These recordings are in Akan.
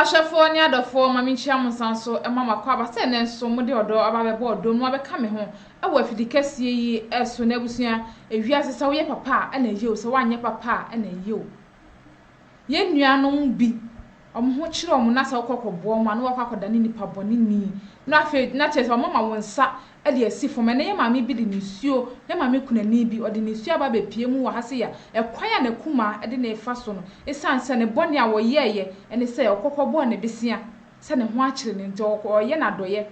Ahwɛfoɔ ne adɔfoɔ, ma menkyia mo nsan so ma mo akwaaba sɛ ɛnnɛ nso mode ɔdɔ aba abɛbɔ ɔdɔ mu abɛka me ho wɔ afidi kɛseɛ yi so na abusua, ewiase sɛ woyɛ papa a na ɛyɛ o sɛ woanyɛ papa a na ɛyɛ o. Yɛn nuanom bi wɔn ho kyere wɔn na sɛ wokɔ kɔboa wɔn a na wakɔ akɔdane nipa bɔne ni na afei na kyerɛ sɛ wɔn ama wo nsa de asi fam. Ɛnnɛ yɛn maame bi de nisuo, yɛn maame kunani bi, ɔde nisuo aba abɛpue mu wɔ ha sei a, ɛkwan a n'akumaa de no refa so no, ɛsiane sɛ ne bɔne a ɔyɛeɛ ne sɛ ɔkɔ kɔbɔɔ no bosea sɛ ne ho akyere no nti, ɔkɔ, ɔreyɛ no adɔeɛ,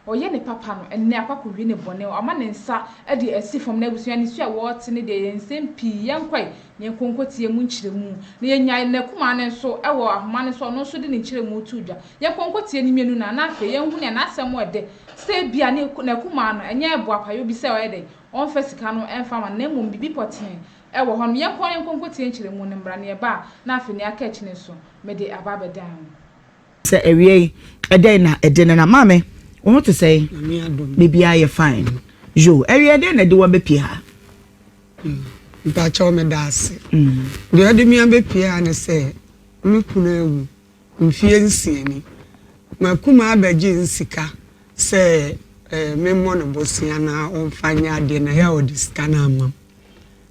ɔreyɛ no papa no, ɛnnɛ akɔ akɔwie ne bɔne, wama ne nsa de asi fam. Na abusua, nisuo a ɛwɔ hɔ te no deɛ, ɛyɛ nsɛm pii. Yɛnkɔe na yɛnkɔ nkɔtie mu nkyerɛmu. Na yɛnyaa n'akumaa no nso wɔ ahoma no so a ɔno nso de ne nkyerɛmu too dwa. Yɛnkɔ nkɔtie ne mmienu no ara na afei yɛnhu nea n'asɛm wɔ dɛ sɛ ebia ne n'akumaa no, ɛnyɛ boapayɔ bi sɛ ɔyɛ dɛn, ɔmfa sika no mfa mma no, na mmom biribi pɔtee wɔ hɔnom. Yɛnkɔ na yɛnkɔ nkɔtie nkyerɛmu no mmra nea ɛba a na afei nea aka akyi no nso, mede aba abɛdan ho. Sɛ awiei, ɛdɛn na ɛde nenam? Maame, wo ho te sɛn? Nyame adom. Biribiara yɛ fine. Yo, awiei ɛdɛn na ɛde wo abɛpue ha? Mpakyɛw, meda ase. Deɛ ɔde me abɛpue ha ne sɛ, me kunu awu. Mfeɛ nsia ni, m'akumaa bɛgye nsika sɛ memmɔ no bosea na ɔmfa nyɛ adeɛ na ɛyɛ a ɔde sika no ama me.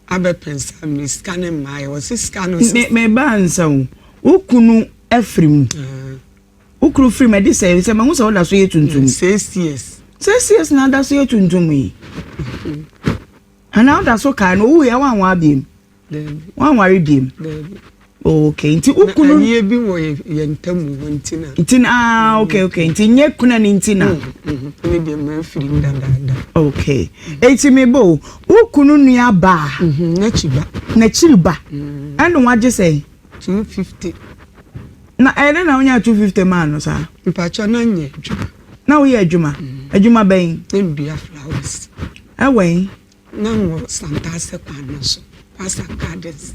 Abɛpɛn sɛ mede sika no mmaeɛ, ɔse sika no sɛ. Me me ba ansa o, wo kunu afiri mu, wo kunu firi mu ɛde sɛn nsɛ mahu sɛ woda so yɛ tuntum. Six years. Six years na ada so yɛ tuntum yi? Anaa woda so kae no, ɔwuiɛ a woanware biom? wanware biem okay nti wo kunu ɛnyɛ bi wɔ yɛn ntam wɔ nti na nti na ah mm. okay okay nti nyɛ kuna ne nti na mm, mm, ne deɛ mmerɛ firi mu dadaada okay eti mi bo wo kunu nua baa mhm, n'akyi ba n'akyiri ba ɛna wagye sɛ two fifty na ɛdɛ na wonya two fifty maa no saa mpakyɛ na nyɛ adwuma na woyɛ adwuma adwuma bɛn ndua flowers ɛwɛn. Ná ɔwɔ Santaase kwan no so, Pastor Cadiz.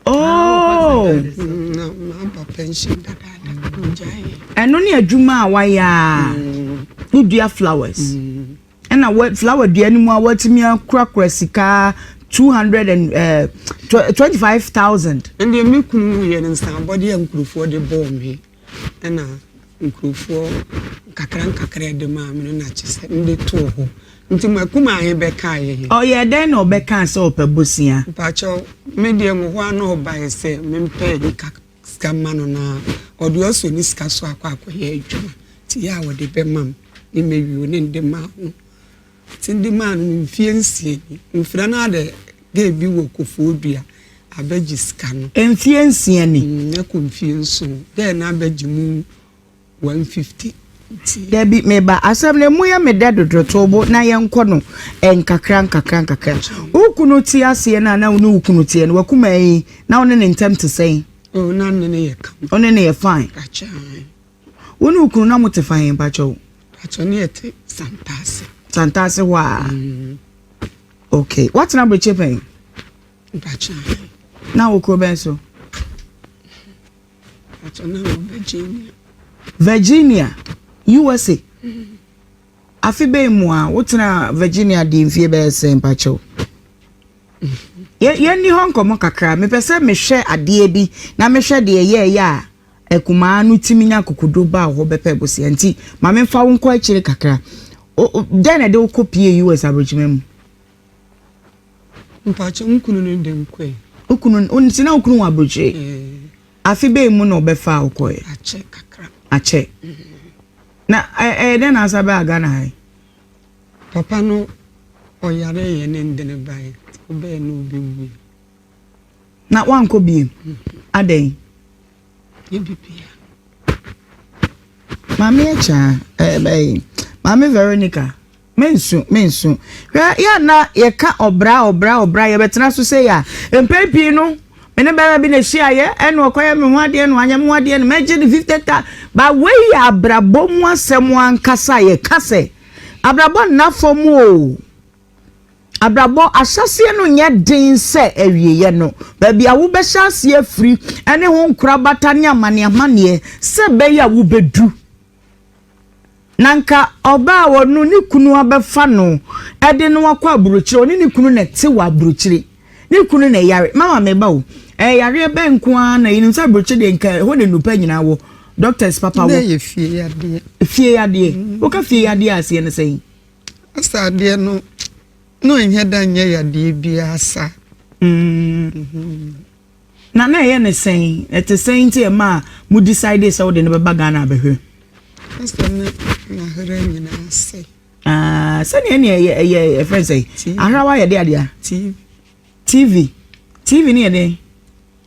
Oh! Na mabɔ pension dadaada, ɔgyaeɛ. Ɛno ne adwuma a wayɛ a wodua flowers. Ɛna wa flower dua no mu a watumi akurakura sika two hundred and eh, twenty five thousand. Ɛndeɛ me kunu wuyɛ no nsabɔdeɛ a nkurɔfoɔ de bɔɔ me. na nkorɔfoɔ nkakra nkakra de maa me no na kyɛ sɛ mede too hɔ nti mo akumaa bɛkaa yɛ. Ɔyɛɛ dɛn na ɔbɛkaa sɛ ɔpɛ bosea? Mpakyɛw, me deɛ mo hɔ a na ɔbaeɛ sɛ mempɛ nka sika mma no na ɔde ɔsɔ ne sika so akɔ akɔyɛ adwuma nti yɛ a ɔde bɛma me ne mɛwie ne de maa no. Tse bi maa no mfie nsia ni, mfrɛ no adɛ gay bi wɔ Kofoɔ Dua abɛgye sika no. Mfie nsia ni? Mm, ɛkɔ mfie nson, gay no abɛgye mu 150 nti. Dabi, me ba, asɛm no emu yɛ me dɛ dodo, to wo bo na yɛnkɔ no nkakra nkakra nkakra. Wo kunu te aseɛ no a na wo ne wo kunu teɛ no, w'akumaa yi, na wo ne ne ntɛm te sɛn? Oh, na me ne no yɛ kama. Wo ne no yɛ fine? Akyɛ, ae. Wo ne wo kunu na mo te fine, mpakyɛw? Pakyɛ ne yɛ te Santase. Santase hɔ a. Mm. Okay. Watena Brekye pɛn? Pakyɛ. Na wo kuro bɛn so? Pakyɛ na wɔ Virginia. Virginia, USA. Mm. Afe bɛn mu a wotena Virginia di mfie bɛyɛ sɛn pakyɛ o? yɛnni hɔ nkɔmmɔ kakra mepɛ sɛ mehwɛ adeɛ bi na mehwɛ deɛ yɛɛyɛ a Akumaa no tumi nya akokoduru ba wo hɔ bɛpɛ bosea nti ma memfa wo nkɔ akyire kakra. O, o, dɛn na ɛde wo kɔ pie US aborɔkyima mu? Mpakyɛ, wo kunu no de nkɔ ɛ. Wo kunu, wo nti na wo kunu wɔ aburokyire? Eh. Afe bɛn mu na ɔbɛfaa wo kɔɛ? Akyɛ kakra. Akyɛ. Na ɛyɛ dɛn na asa baa Ghana ha yi? Papa no ɔyare yɛ ne ndene bae, ɔbɛɛ na ɔbɛwui. na wankɔ biem. Adɛn? Maame Akya, ɛbɛyi, Maame Veronica, mensu mensu hwɛ yɛ na yɛka ɔbra ɔbra ɔbra yɛbɛtena so sɛ yɛ a mpɛn pii no me ne bɛrima bi na ahyiaeɛ ɛna ɔkɔyɛ me ho adeɛ no anyɛ me ho adeɛ no mɛgye ne fifty ta ba wei yɛ abrabɔ mu asɛm ankasa yɛka sɛ abrabɔ nna fam o Abrabɔ ahyɛseɛ no nyɛ den sɛ awieɛ no, baabi a wobɛhyɛ aseɛ afiri ne ho nkorabata ne amaneɛamaneɛ sɛ ɛbɛyɛ a wobɛdu. Na nka ɔbaa a ɔno ne kunu abɛfa no de no akɔ aburokyire, ɔne ne kunu na ɛte wɔ aburokyire, ne kunu na ɛyare, mama meba o, ɛyareɛ bɛn nko ara na yɛnim sɛ aburokyire deɛ nka ɛhɔ na nnupa nyinaa wɔ, doctors papa wɔ. Fie yadeɛ. Fie yadeɛ. Mm. Woka fie yadeɛ aseɛ no sɛn? Asa adeɛ no na ɛnyɛ da nyɛ yadeɛ biara sa. Mm-hmm. Na na ɛyɛ ne sɛn ɛte sɛn nti ɛma a mo decide sɛ wode no bɛba Ghana abɛhwɛ. Asa ne n'ahera nyinaa sɛ. Ah, sɛdeɛ ne ɛyɛ ɛyɛ ɛfrɛ sɛ ahrawa yɛde adeɛ. TV TV TV ne yɛde.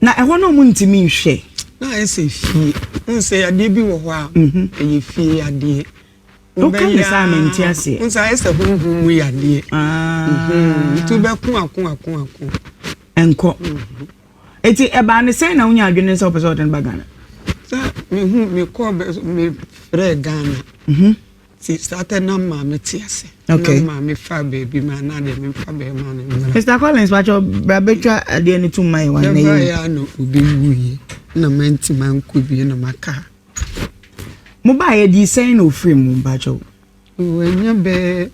Na ɛhɔ no ɔmo ntumi nhwɛ. Na ayɛ sɛ fie. Wohu sɛ yadeɛ bi wɔ hɔ a, ɛyɛ fie yadeɛ. Woka ne saa a, mente aseɛ. Wohu sɛ ayɛ sɛ honhom mu yadeɛ. Nti wobɛko ako ako ako. Ɛnkɔ. Eti ɛbaa ne sɛn na wonya adwene sɛ wopɛ sɛ wɔde no ba Ghana? Sɛ mehu mekɔɔ mefrɛɛ Ghana. Nti saa tɛ na maa me te ase. Okay. Na maa me fa baabi maa na deɛ me nfa bɛɛ maa ne mmerɛ. Mr Collins wàtɔ bra bɛtwa adeɛ ne tum mayɛ wɔn anayɛ. Bɛbra yɛ na obi wu yɛ na ma nti ma nkɔ bie na ma ka. Mo ba yɛ di sɛn na ofiri mu mpatsɔ. Wɔnyɛ bɛɛ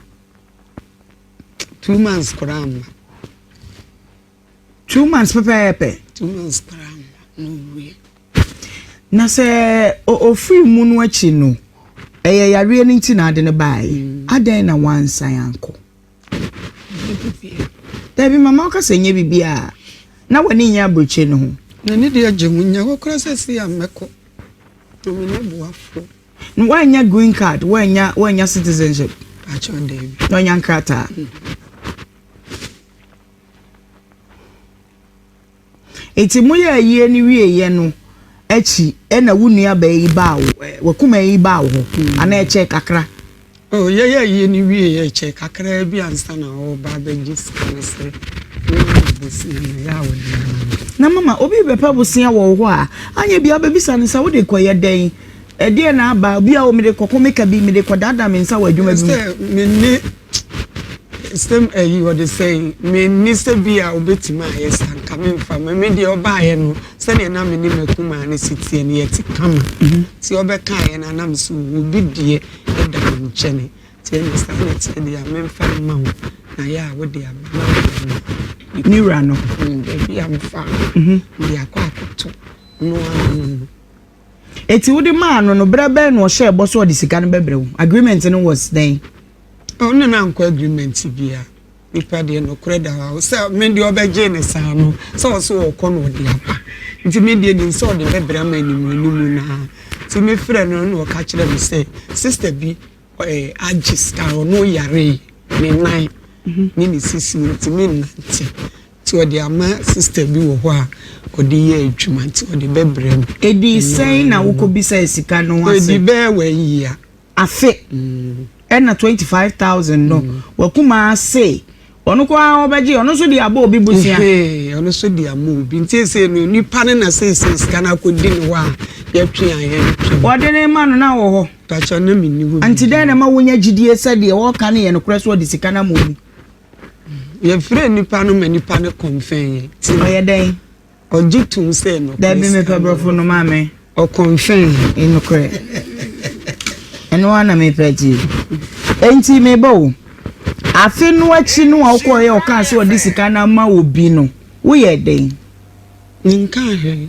two months koraa mma. Two months pɛpɛɛpɛ. Two months koraa na ɔwuiɛ. Na sɛ ɔfiri mu no akyi no, ɛyɛ yareɛ no nti na ade no baeɛ. Mm. Adɛn na wansan ankɔ? Dabi mama ɔka sɛ nyɛ biribi a na w'ani nyɛ aburokyi no ho. N'ani deɛ agye ho nyɛ hɔ koraa sɛ si a mɛkɔ. Na me nyɛ boafoɔ. Na woanya green card, woanya woanya citizenship. Akyɛ ɔda bi. Na ɔnya nkrataa. Mm. Enti moyɛɛ ayie no wieeɛ no akyi na wo nuabaa yi baa wo, wakumaa yi baa wo hɔ, mm. anaa ɛkyɛɛ kakra? Oh, yɛyɛ ayie no wieeɛ ɛkyɛɛ kakra bi ansa na ɔreba abɛgye sika no sɛ wɔwɔ bosia no yɛ a wɔde ama no. Na mama, obi bɛpɛ bosia wɔ wo hɔ a, anyɛ bia wobɛbisa no sɛ wode kɔyɛ dɛn? ɛdeɛ na aba obi a wɔde kɔkɔ meka bi mede kɔdaadaa me nsa wɔ adwuma bi mu. Same ayi wɔde sɛn menni sɛ bi a wobɛtumi ayɛ sa nka memfa ma me deɛ ɔbaayɛ no sɛdeɛ na me ne makumaa no si teɛ no yɛte kama nti ɔbɛkaeɛ no anam so obi deɛ ɛda me nkyɛne nti ɛne saa na teɛ deɛ a memfa mma wo na yɛ a wode aba na wode ma ne wura no baabi a mefa de akɔ akɔto no ano no Enti wode maa no no berɛ bɛn na ɔhyɛɛ bɔ sɛ ɔde sika no bɛbrɛ wo? Agreement no was dɛn? Ɔno ne no ankɔ agreement bia. Nipa deɛ nokorɛ da hɔ a sɛ me deɛ ɔbɛgyee no saa no sɛ ɔse ɔɔkɔ na ɔde aba nti me deɛ nim sɛ ɔde bɛbrɛ ama anim anim no a nti me frɛ no na ɔka kyerɛ me sɛ sister bi eh, agye sika ɔno yaree ne nan ne ne sisi nti me nnante Nti ɔde ama sister bi wɔ hɔ a ɔde yɛ adwuma nti ɔde bɛbrɛ no. Ɛdi sɛn na wo kɔ bisa yɛ sika no ho ase? Ɛdi bɛyɛ one year. Afe ɛna twenty five thousand no wɔ kuma ase ɔno kɔ ara ɔbɛgye ɔno nso de abɔ obi busua. Ɛhɛn ɔno nso de ama obi nti ɛsɛ no nipa no na sɛ ɛsɛ sika no akɔ di ne hɔ a yɛtwe a yɛntwe. Ɔde ne ma no na wɔ hɔ. Pakyɛ na menni hɔ. Nti dɛn na ɛma wonya gyidie sɛ deɛ ɔreka no yɛ nokorɛ sɛ ɔde sika no ama obi? Yɛfrɛɛ nnipa no ma nnipa no kɔnfɛn yɛn. Ti ɔyɛ dɛn? Ɔgye tom sɛ nokorɛ. Dabi mepɛ borɔfo no maa me. Ɔkɔnfɛn yɛn. Nokorɛ. Ɛno ara na mepɛ ti. Enti mebɔ wo. Afe no akyi no a wokɔeɛ ɔkaa sɛ ɔde sika no ama obi no, woyɛɛ dɛn? Menkaa hwee.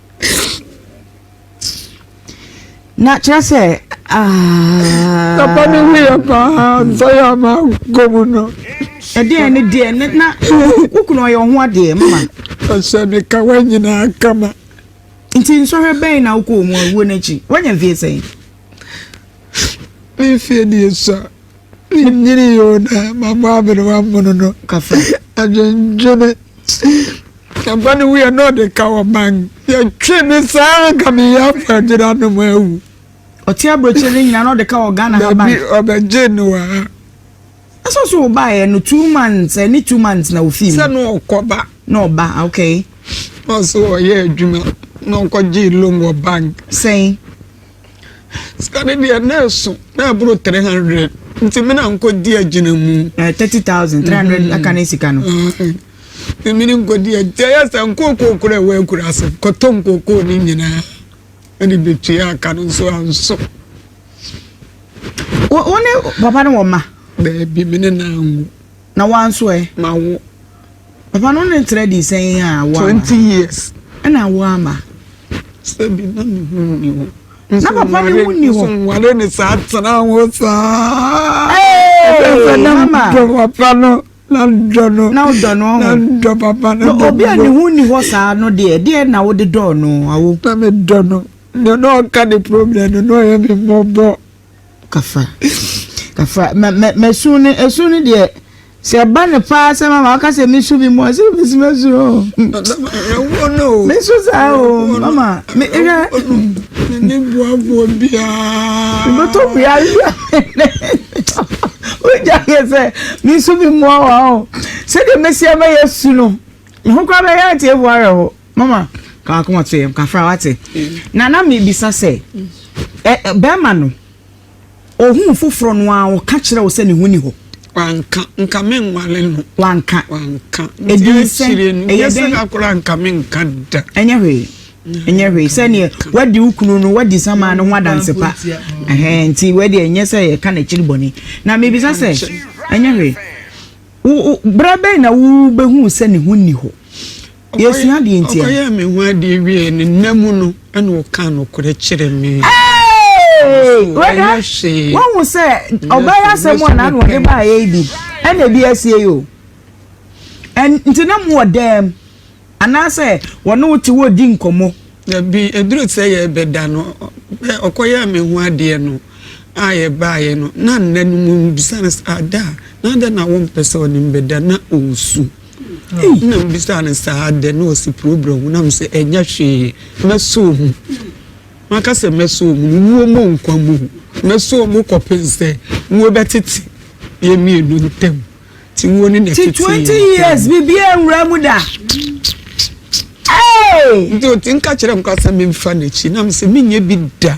na kyerɛ sɛ papa ne ho yɛ paa nsa yɛ ama nkɔ mu no ɛdeɛ ne deɛ ne na wo kunu ɔyɛ ɔho adeɛ mama ɔhyɛ ne ka wa nyinaa kama nti nsɔhwɛ bɛn na wokɔ mu awuo no akyi woanya mfie sɛn memfie deɛ sua Menyinii oo na mabɔ aberewa mmono no afa adwendwene. Afa no wuiɛ na ɔde ka wɔ man. Yɛtwe me saa nka meyɛ afɔ agyina no mu awu. Ɔte aburokyire no nyinaa na ɔde ka wɔ Ghana haban. Dabi ɔbɛgye no wɔ ha. Ɛsɛ so wobaeɛ no two months ɛne two months na wofii mu. Sɛ na ɔkɔba. Na ɔba okay. Ɔso ɔyɛ adwuma na ɔkɔgye loan wɔ bank. Sɛn. Sika no deɛ na ɛso na ɛboro three hundred nti mi na nkɔ di agyina mu. Ɛɛ eh, thirty thousand three hundred mm-hmm. aka ne sika no. Èmi ni nkɔ di agyina yɛ sɛ nkookoo kura ɛwɔ akura ase kɔtɔ nkookoo ne nyinaa ɛde bi tua aka no nso anso. Wɔn ne papa no wɔ ma. Baabi mi ne na anwo. Na woa nso ɛ? Ma wo papa no ne ntra di sɛn a woama no? Twenty years. Ɛna wo ama? Sɛ bi na me ho nni hɔ. Na papa ne ho nni hɔ. Nso nware ne saa tena ho saa. Ɛfɛ na dɔ papa no. Na dɔ no. Na dɔ no. Na dɔ papa no. Na obi a ne ho nni hɔ saa no deɛ deɛ na wode dɔ no awo. Na me dɔ no. Nea na ɔka ne problem no na ɔyɛ me mmɔbɔ. kafra kafra mɛ mɛ mɛsu ne ɛsu ne deɛ sɛ ɛba ne paa sɛ mama ɔka sɛ mesu bi mu a sɛ mesi mɛsu o mesu saa o mama me ɛhwɛ ne boaboa biara mebɛtɔ biara wogya yɛ sɛ mesu bi mu a wɔ o sɛdeɛ mɛsi ɛbɛyɛ su no ho kora bɛyɛ ate ɛboa rɛ ho mama ka akoma to yɛm kafra wate na na mebisa sɛ bɛrima no ohun foforɔ no a ɔka kyerɛ wo sɛ ne ho ni hɔ wanka nka me nwale no wanka wanka ɛdi sɛ ɛyɛ sɛ kakora nka me nka da ɛnyɛ hwee ɛnyɛ hwee sɛdeɛ wadi wo kunu no wadi sama no ho adanse pa nti wadi ɛnyɛ sɛ yɛka n'akyiri bɔne na mebisa sɛ ɛnyɛ hwee berɛ bɛn na wobɛhu sɛ ne ho nni hɔ Yɛsua deɛ nti a. Ɔkɔyɛɛ me ho adeɛ wieeɛ no, nna mu no na ɔkaa nokorɛ kyerɛ me. Hey! Wɛda, woahu sɛ ɔbaa yi asɛm a na ano ɔde baa yɛ yi bi, ɛna ebi asie yi o. Nti na mo wɔ dɛm, anaasɛ wɔne wo te wɔredi nkɔmmɔ? Dabi, ɛduru sɛ yɛrebɛda no, ɔkɔyɛɛ me ho adeɛ no a yɛbaeɛ no, na nna no mu, mebisa no sɛ, Ada, na adɛn na wompɛ sɛ ɔne me bɛda? Na ɔresu. Nna mibisaa no saa adɛn na ɔse probrɛ ho na mesɛ ɛnyɛ hwee mɛsoo mu maka sɛ mɛsoo mu no wuo mo nkwa mu mɛsoo mu kɔpen sɛ wuo bɛtete yɛ mmienu ntam ti wuo ne na ɛtete yɛ ntam. Ti 20 years biribiara nwura mu da. Hey! Nti ɔti nka kyerɛ nkwa sɛ memfa n'akyi na mesɛ menyɛ bi da.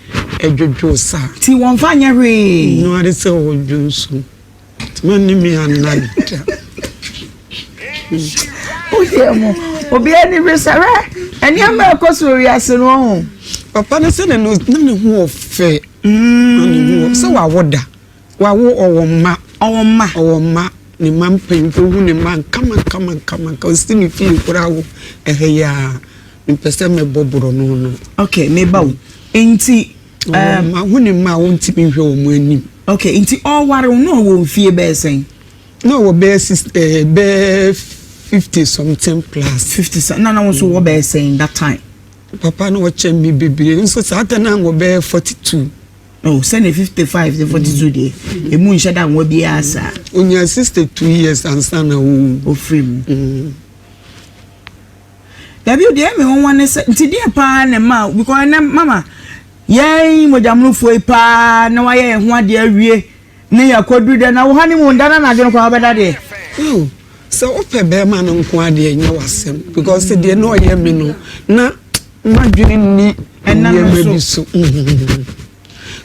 dwodwoo sa. Nti wɔmfa nyɛ hwee. Nnu ade sɛ wɔdwo nsu. Nti manni me anan da. Wodeɛ mo, obiara ani bere sɛ hwɛ nneɛma a ɛkɔ so wɔ wiase no ɔho. Papa no sɛ na ne ho ɔfɛ. Mm. Na ne ho ɔfɛ sɛ wawo da. Wawo ɔwɔ mma, ɔwɔ mma, ɔwɔ mma, ne mma mpanyimfo hu ne mma nkamankamankamanka, ɔsi ne fie koraa wo ɛhɛ yi ara, mepɛ sɛ mɛbɔ borɔno no. Okay, meba o, nti Ɔwɔ um, mma, hu ne mma a ɔntumi nhwɛ wɔn anim. okay, nti ɔreware wo na ɔwɔ mfie bɛyɛ sɛn? Na ɔwɔ bɛyɛ six, eh, bɛyɛ fifty something plus. fifty sa na na wo nso wɔ bɛyɛ sɛn that time? Papa no ɔkyɛn me bebree, nso saa da no a na ɔwɔ bɛyɛ forty two. Oh, sɛne 55 sɛ 42 deɛ ɛmu mm. nhyɛ da nwa biaa saa ɔnya 62 years ansa na wo ɔfiri mu mm. dabi deɛ me wɔwa ne sɛ nti deɛ paa ne ma because ɛnɛ mama yɛn mogyamonofoɔ yi paa na wayɛ yɛn ho adeɛ awie ne yɛakɔduru dɛ na wo ha ne mu nda na nadwene kɔ wobɛda deɛ oh, sɛ wopɛ bɛrima no nko adeɛ nyɛ wasɛm because deɛ na ɔyɛ me no na M'adwene nni nneɛma bi so.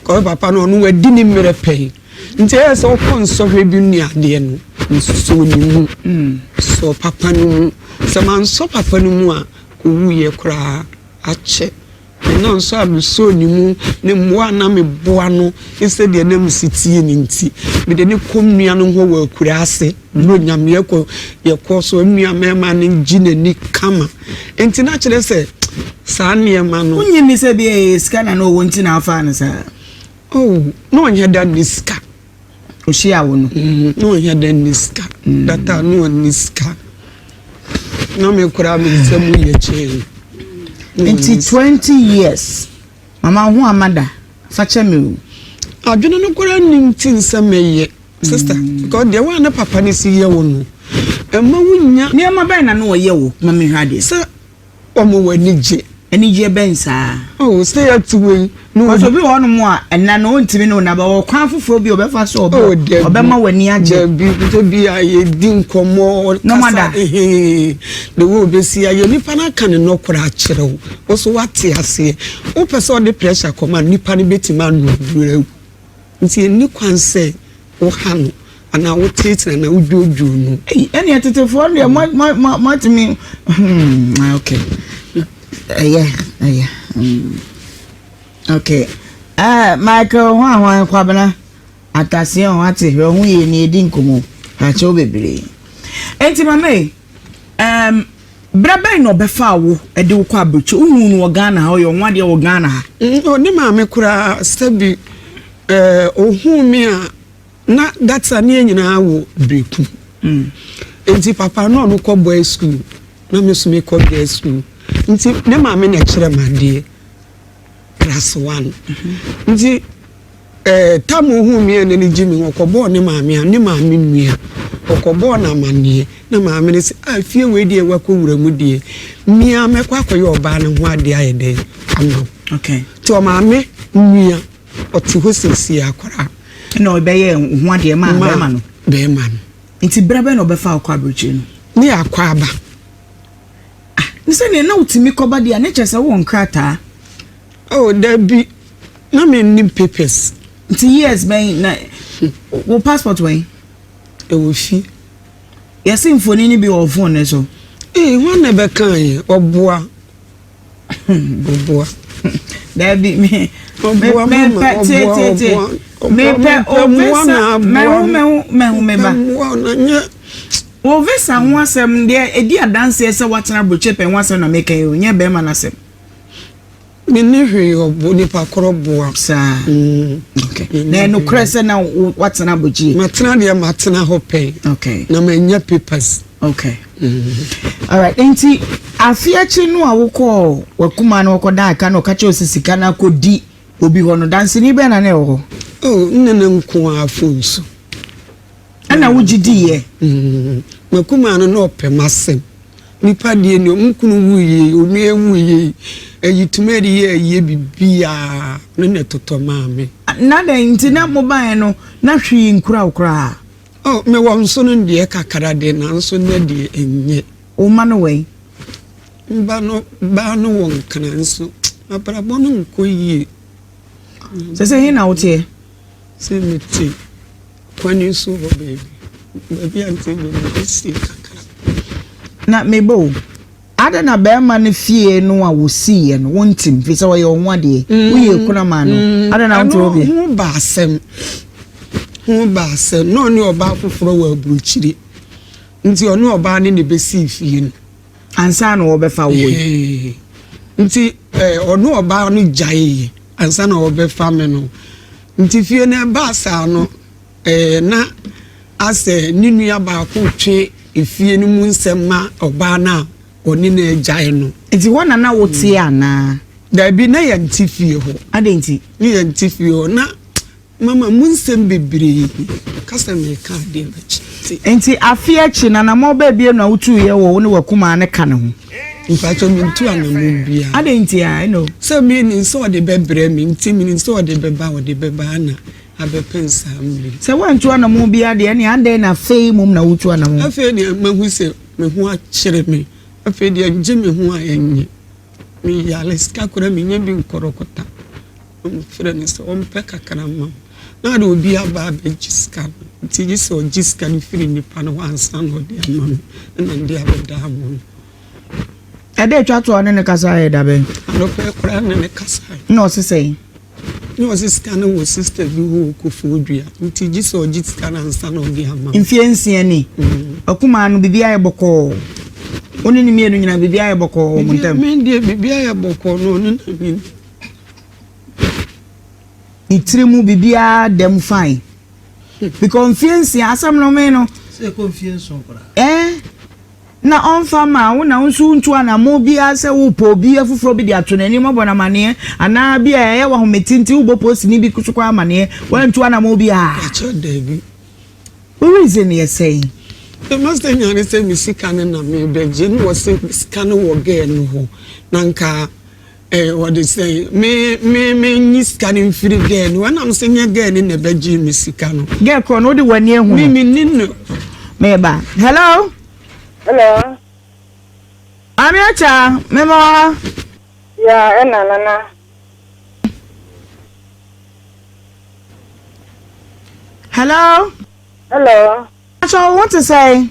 Kɔyɛ papa no ɔno wadi ne mmerɛ pɛn. Nti ɛyɛ sɛ wokɔ nsɔhwɛ bi ne adeɛ no, nsusuo ne mu. Mm. Sɔ papa no mu. Sɛ mansɔ papa no mu a, owuiɛ koraa akyɛ. Ɛna nso a mesɔɔ ne mu, ne mmoa a na meboa no, ne sɛdeɛ na mesi tie no nti, mede no kɔ me nua no hɔ wɔ Akuraase. No nyame yɛ kɔ yɛ kɔ so nua mɛɛma no gyi n'ani kama nti na kyerɛ sɛ saa nneɛma no. Wonyi ni sɛ bi a ɛyɛ sika na na ɔwɔ nti na afaa no saa. Oh na ɔnyɛ da ni sika. Ohyia awo no. Mm-hmm. Na ɔnyɛ da ni sika. Mm. Data na ɔni sika. Na me kura me nsɛm yɛ kyɛn. Nti twenty years mama ho amada fakyɛ me o. Adwene no kura nim ti nsɛm ɛyɛ. Sister, because deɛ wo a ne papa no si yɛ wo no, ɛma wo nya. Nneɛma bɛn na na ɔyɛ wo? Ma menhwɛ adeɛ. Sɛ wɔn wɔ anigyeɛ. Anigyeɛ bɛn saa? Oh, sɛ yɛte wei. Because obi wɔ hɔnom a, ɛna no ɔntumi ne wo nna, but ɔkwan foforɔ bi ɔbɛfa so ɔbɔ, oh, debi, ɔbɛma w'ani agye. Dabi, nso bi a yɛdi nkɔmmɔ, ɔkasa, ehe, de wo ɔbɛsi ayɛ, nipa no aka ne nɔkorɛ akyerɛ wo, wo so wate aseɛ, wopɛ sɛ ɔde pressure kɔma, nipa no bɛtumi anoduru awu. Nti enni kwan sɛ woha no anaa woteetee no anaa wodwoodwoo no. Ei, ɛnneɛ tetefoɔ no deɛ mo, mo, mo, moatumi, hmm, ah, okay. Ɛyɛ, ɛyɛ, hmm. Okay. Eh, Michael ho a hwan kwabena ataseɛ ho ate hwɛ ho yie ni edi nkɔmmɔ. Akyɛw bebree. Enti mama yi. Ɛɛm Berɛ bɛn na ɔbɛfaa wo de wo kɔ abirekyɛ? Wohuu no wɔ Ghana ha, ɔyɛ ɔnwadeɛ wɔ Ghana ha? Ɔne maame koraa sɛbi ɛɛ ohuu me a na that time yɛn nyinaa wɔ Berekum. Nti papa na ɔno kɔ boys school na me nso mekɔ girls school nti ne maame na ɛkyerɛ me adeɛ. Plus one. Nti eh, tam ohuu me a n'ani gye me ho, ɔkɔbɔɔ ne maame a, ne maame nua, ɔkɔbɔɔ no amanneɛ. Na maame no se, ah, fie wei deɛ woakɔwura mu deɛ, me ara mɛkɔ akɔyɛ ɔbaa no ho adeɛ ayɛ dɛn ama wo. Okay. Nti ɔmaame nua, ɔte hɔ seesei akwaraa. Ɛna ɔbɛyɛ ho adeɛ maa bɛrima no? Bɛrima no. Nti berɛ bɛn na ɔbɛfa akɔ aburokyire no? Ne yɛakɔ aba. Ah, ne sɛ neɛ na wotumi kɔba deɛ a, ne kyerɛ sɛ wowɔ nkrataa? Oh, dabi, na mennim papers. Nti years bɛn na wo passport wɛn? Ɛwɔ fi. Yɛse mfoni no bi wɔ phone no so. Ee, hwan na ɛbɛkaeɛ? Ɔboa. Boboa. Dabi me. Boboa me mepɛ tie tie tie. Mepɛ ovesa mɛho mɛho mɛho meba. Ovesa ho asɛm deɛ edi adanseɛ sɛ watena aburokyɛ pɛn ho asɛm na meka yi o nyɛ bɛrima no asɛm. Mene hwee ɔbo nipa korɔ boa. Saa. Mm. Okay. Na ɛnokorɛ sɛ na watena aburokyɛ. Matena deɛ matena hɔ pɛn. Okay. Na manya papers. Okay. Alright, enti afe akyi no a wokɔɔ w'akumaa no ɔkɔdaa ka na ɔka kyerɛɛ wo sɛ sika no akɔdi obi hɔ no, danseni bɛn na na ɛwɔ hɔ? Oh, nna na nko ara phone so. Ɛna wogye diiɛ? Mm, m'akumaa no na ɔpɛ m'asɛm. Nipa deɛ ni, wɔn kunu wuiɛ yi, onua wuiɛ yi, ɛyi tumi ɛde yɛ ayie biribiara, ɔno na ɛtotɔ maa me. Na dɛn nti na mobaeɛ no na hwee nkura wo koraa? Oh, mewɔ nso no deɛ kakra de nanso nnɛ deɛ ɛnyɛ. Wo mma no wɔ yi? Mba no, baa no wɔ nkran nso abrabɔ no nkɔ yie. Sɛ sɛ he na woteɛ? Sɛ mete kwane so hɔ baabi, baabi a nti mede si kakra. Na mebɔ o. Adɛn na barima no fie no a wosiiɛ no wontim? Ɛfiri sɛ ɔyɛ wo ho adeɛ. Woyɛ akuna maa no. Adɛn na wonte wodeɛ? Ɛno ho ba asɛm. Ho ba asɛm. Na ɔne ɔbaa foforɔ wɔ aburokyire. Nti ɔne ɔbaa no na ɛbɛsii fie no. Ansa na wɔbɛfa wo yi. Nti ɔne ɔbaa no gyaeeɛ ansa na wɔbɛfa me no. Nti fie no ɛbaa saa no. Ɛɛ, na asɛ ne nua baako retwe efie no mu nsɛm ma ɔbaa no a ɔne no agyae no. Nti hɔ na na woteɛ anaa? Daabi, na yɛnte fie hɔ. Adɛn nti? Na yɛnte fie hɔ. Na mama mu nsɛm bebree. Ka sɛ mereka adeɛ no akyi nti. Nti afe akyi no, anammɔn baabiara na wotuiɛ wɔ wo ne w'akumaa no ka no ho? Mpakyɛ, mentu anammɔn biara. Adɛn nti a? Ɛnna o. Sɛ menim sɛ ɔde bɛbrɛ me nti, menim sɛ ɔde bɛba a, ɔde bɛba, ɛnna. abɛpɛn saa mmere yi. Sɛ woantu anammɔn biara de, ɛnneɛ adɛn na afei mmom na woretu anammɔn? Afei deɛ mahu sɛ me ho akyere me. Afei deɛ ngye me ho a ɛnyɛ. Meyare, sika koraa mennya bi nkɔrɔkɔta. Na mefrɛ no sɛ ɔmpɛ kakra mma me. Na ade obi aba abɛgye sika no, nti gye sɛ ɔgye sika no firi nnipa no hɔ ansa na ɔde ama me, ɛna mede abɛda amono. Ɛda a ɛtwa to a ɔne no kasaeɛ yɛ da bɛn? Anɔpa yi koraa ne no kasaeɛ. Na ɔse sɛn? na ɔdze sika no wɔ sister bi hɔ wɔ Koforidua ntsi gyesɛ ɔgye sika no ansa na ɔdze ama me. Mfie nsia ni, akumaa no biribi ayɛ bɔkɔɔ, wo ne no mmienu nyinaa biribi ayɛ bɔkɔɔ wɔ mo ntam? Me deɛ biribi ayɛ bɔkɔɔ na ɔne na me ni. Ne tiri mu biribiara da mu fine because mfie nsia asɛm no me no. Sɛ ɛkɔ mfie nson koraa. Ɛɛ. Eh? na ɔmfa mma wo na wo nso wontu anammɔn biara sɛ worepɛ obi afoforɔ bi de ato n'anim abɔ no amaneɛ anaa bi a ɛyɛ wo ahomete nti wobɔ postini bi so kɔ amaneɛ woantu anammɔn biara. Ɛkyɛ daabi. Wo reason yɛ sɛn? Me master nya ne sɛ me sika no na merebɛgye na ɔse sika no wɔ girl no hɔ na nka Ee wɔde sɛn me me menyi sika no mfiri gɛɛ no wɔnam sɛ nyɛ gɛɛ no na ɛbɛgyee me sika no. Gɛɛ korɔ no wode w'ani ahu no. Me menni no. Meba. Hello. Hello. Maame Akya mema wɔ ha. Ya ɛna nana. Hello. Hello. Akyɛ wo te sɛn?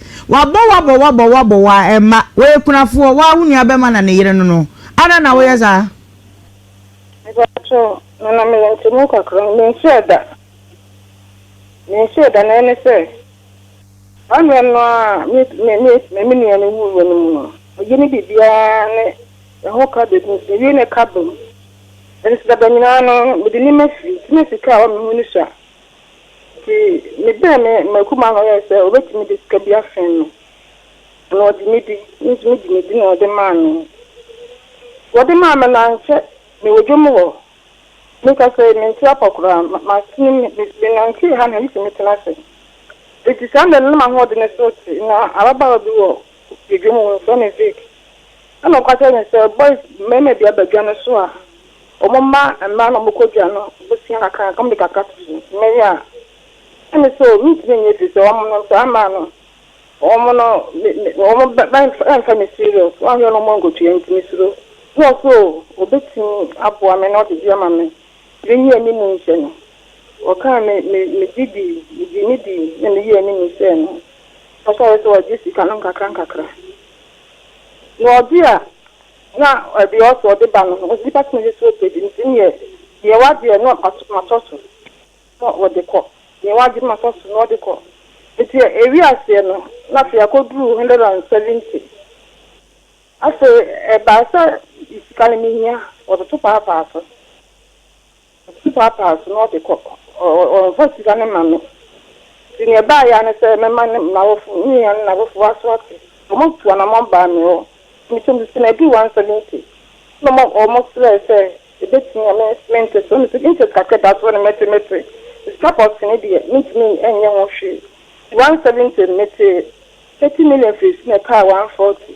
Wabɔ wo abɔ wo abɔ wo abɔ wo a ɛmma. Wɔyɛ kunafoɔ, wo ara wo nua bɛma na ne yere no no. Adɛn na woyɛ saa? Mepakyɛw, na na meyɛ ntemu kakra. Mensuae da. Mensuae da, na ɛne sɛ, saa mmerɛ no ara a me me me me me nua no wuiɛ no mu no, ɔyɛ ne biribiara ne ne ho ka bɛgu nso, mewie ne ka bam. Ɛnso dada nyinaa no, mede nneɛma firi, nti na sika a ɛwɔ me ho no sua. Ntsi mebɛɛ me m'akuma no yɛɛ sɛ obetumi dze sika bi afɛn me, na ɔgye me dzi. Mo so megye no dzi na ɔdze maa no. Wɔdze maa me no, annkyɛ mewɔ dwom hɔ. Mekasa yi, menntse apa koraa, m'asen mu me menantsee ha na misi metsena ase. Ntsi saa mber no nna m'ahoɔdzen so tse. Nna ababaawa bi wɔ dwom mu, wɔfrɛ no Vic. Nna ɔka kyerɛ me sɛ, Boys, mmarima bi aba dwa no so a, Wɔma mmaa no a wɔkɔ dwa no bosea kakra na wɔde kakra to so. Mmɛyɛ a, na me sɛ o, mentumi nyɛ efiri sɛ wɔn no, saa mmaa no, wɔn no, me, me, wɔn bɛ, bɛmfa, bɛmfa me serious. Wɔn yɛ no wɔn nkotua nti me suro. Bi wɔ so o, obetumi aboa me na ɔde bi ama me. Me nyi anim nhyɛ no. Wɔkaa me, me, me gye dii, me gye ne dii na me yii anim hyɛɛ no. Ɔhyɛɛ sɛ ɔgye sika no nkakra nkakra. Na ɔgye a, Na ɛdeɛ ɔsɛ ɔde ba no no nipa tumi de so page nti neɛ deɛ wadeɛ no matɔ so na ɔde kɔ deɛ wagye no matɔ so na ɔde kɔ nti ɛwi aseɛ no na afei akɔ duru one hundred and seventy afei ɛbaa sɛ sika no mehia ɔtoto paapaa so. Ɔte paapaa so na ɔde kɔ. Ɔmfa sika no mma me. Nti nea ɛbaeɛ ara ne sɛ mɛma ne m'awofo, ne nua no n'awofo wɔaso ate. Wɔtuu anammɔn baa me hɔ. Metuu me sene ɛduu one seventy. Ɛna wɔsrɛɛ sɛ ɛbɛtumi a mente so. Mese interest kakra a ɛda so no mɛte mɛte. Sika pɔtee no deɛ mentumi nyɛ ho hwee. Nti one seventy no metee thirty million firii so na ɛkaa one forty.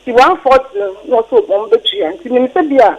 Nti one forty no na wɔse wɔbɛtua. Nti menim sɛ bi a.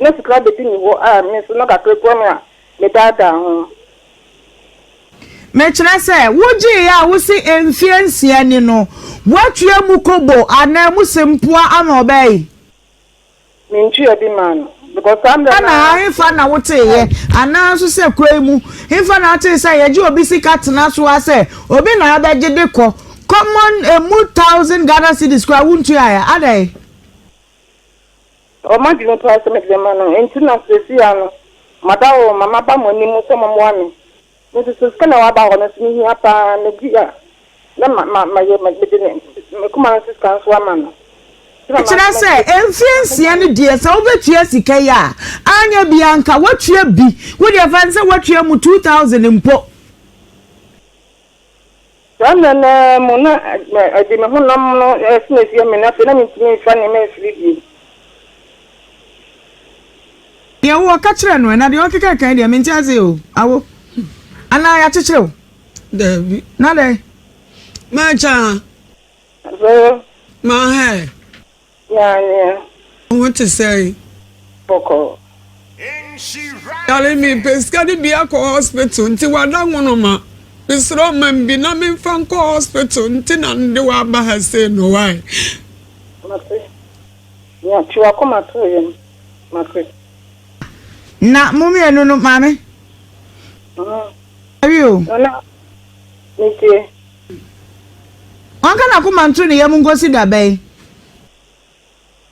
Mede sika bedi ne hɔ a me nso na kakra kura me a medaadaa ho. Mekyerɛ sɛ, wogyee a wose mfeɛ nsia ni no, woatua mu kobo anaa mu sempoa ama ɔbaa yi? Mentua bi maa no because saa mmerɛ no ara. Ɛna hefa na woteeɛ anaa nso sɛ kuro yi mu hefa na wotee sɛ yɛgye obi sika tena so ara sɛ obi na abɛgye de kɔ common ɛmu thousand Ghana cedis koraa wontuaeɛ adɛn? Ɔwɔ m'adwene paa sɛ mede bɛma no, enti na seesei ara no mada hɔ ma maba mo anim sɛ mommoa me. Me nso sɛ sika na ɛwɔ aba hɔ no nso mehia paa, megye a na ma ma mayɛ mede ne me kuma no sika nso ama no. Nti na Ɛkyerɛ sɛ mɛgye mfeɛ nsia no deɛ sɛ wobɛtua sika yi a, anyɛ biaa nka woatua bi, wodeɛ fa no sɛ woatua mu two thousand mpo. Saa mmerɛ no ara mu na ɛde me honam no sene asie me, na afei na mentumi mfa nneɛma mfiri bio. Deɛ wo ɔka kyerɛ no ɛ na deɛ ɔkeka kan deɛ mente ase o awo anaa yɛakyekyere wo daabi na dɛn mɛkyɛ a mɛhɛ. Nyanea. Wo ho te sɛn? Bɔkɔɔ. Yare me pɛ sika de bi akɔ hospital nti wada nwonoma me srɛ ɔmam bi na me nfa nkɔ hospital nti na no de wo aba ha sei no why. Mate. Nea tu wakoma to yɛn. Mate. Na mo mmienu no maame. Awie o. Nana. Metie. Ɔnka n'akoma nto ne yam nkosi da bɛn?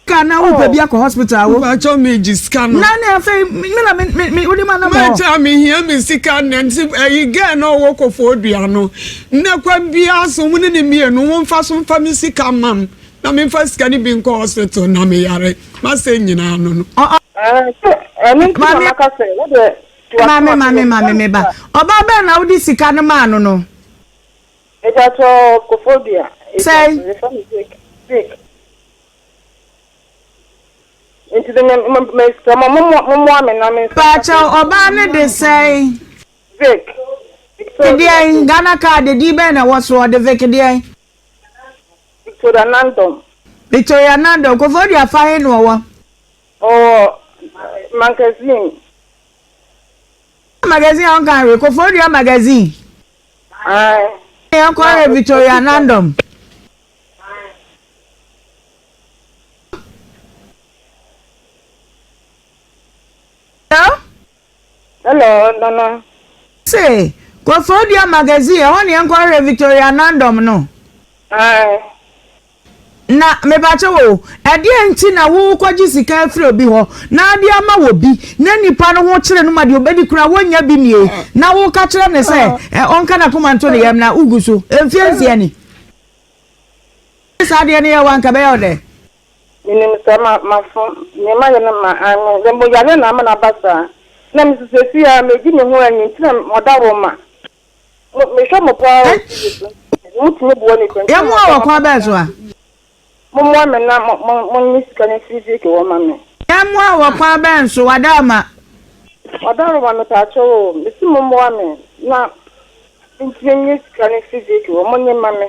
Ka na wo pɛ bi akɔ hospital awo. Mpacho me ji sika no. Na ne afei me na me me me wode ma na mo. Mpacho me hia me sika na nti ayi girl na ɔwɔ kofo dua no. Na kwan bia so mo ne ne mienu wo mfa so mfa me sika mam na me mfa sika ne bi nkɔ hospital na me yare. Masɛ nyina no no. Ah, ɛno nti na maka sɛ wode Ma me, ma me, ma me me ba. Ɔbaa bɛn na wode sika no maa no no? Mepatsɔ Kofodua. Sɛn? Yɛfrɛ no Vic. Vic. Nti de me me me sɛ mo mo mo mmoa me na me nsa. Paakyɛ ɔbaa no de sɛn? Vic. Victoria. Deɛn? Ghana card din bɛn na ɛwɔ so? Ɔde Vic deɛn? Victoria Nandom. Victoria Nandom. Kofodua fa he na ɔwɔ? Ɔwɔ magazine. Magazine a ɔnka hwee. Kofodua magazine. Ae. Na yɛn kɔ yɛ Victoria Nandom. Hello. Hello, Nana. Se kɔ Fodua magazine ɛhɔ ne yɛnkɔ hwɛ Victoria Nandom no. Ae. Na mebakyɛw o, ɛdeɛn nti na wo kɔgye sika afiri obi hɔ na ade ama wɔ bi na nipa no ho kyere no ma deɛ obɛdi koraa wɔnnya bi nie na wo ka kyerɛ no sɛ ɛ ɔnka nakoma nto ne yam na wo gu so mfie nsia ni. Sɛ saa deɛ no yɛ wo a nka ɛbɛyɛ wo dɛn? Minim sɛ ma mafom, nea mayɛ no ma anwen, na mmom yareɛ na ama no aba saa. Na me nso seesei ara medi me ho anyi nti na mada hɔ ma mo. Mehwɛ mo paa wɔ TV so, motumi boa nnipa nti na mada hɔ ma mo saa. Mommoa me na monyi sika no mfiri Vicky hɔ mma me. Yɛmmoa wo wɔ kwan bɛn so? Wada hɔ ma. Wada hɔ ma me paakyɛw o. Mese mommoa me na mentumi nyi sika no mfiri Vicky hɔ, monyi mma me.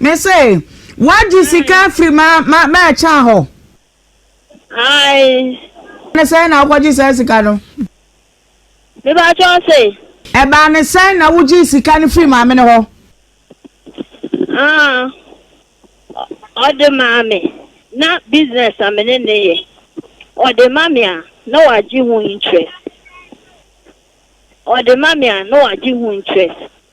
Me se, woagye sika afiri m'akyɛa hɔ? Ae. Ne sɛn na wokɔgye saa sika no? Mepakyɛ wo se? Ɛbaa ne sɛn na wogyee sika no firi maame no hɔ? Ah, ɔde maa me. Na business a me ne ne yɛ. Ɔde ma me a, na wagye ho interest. Ɔde ma me a, na wagye ho interest.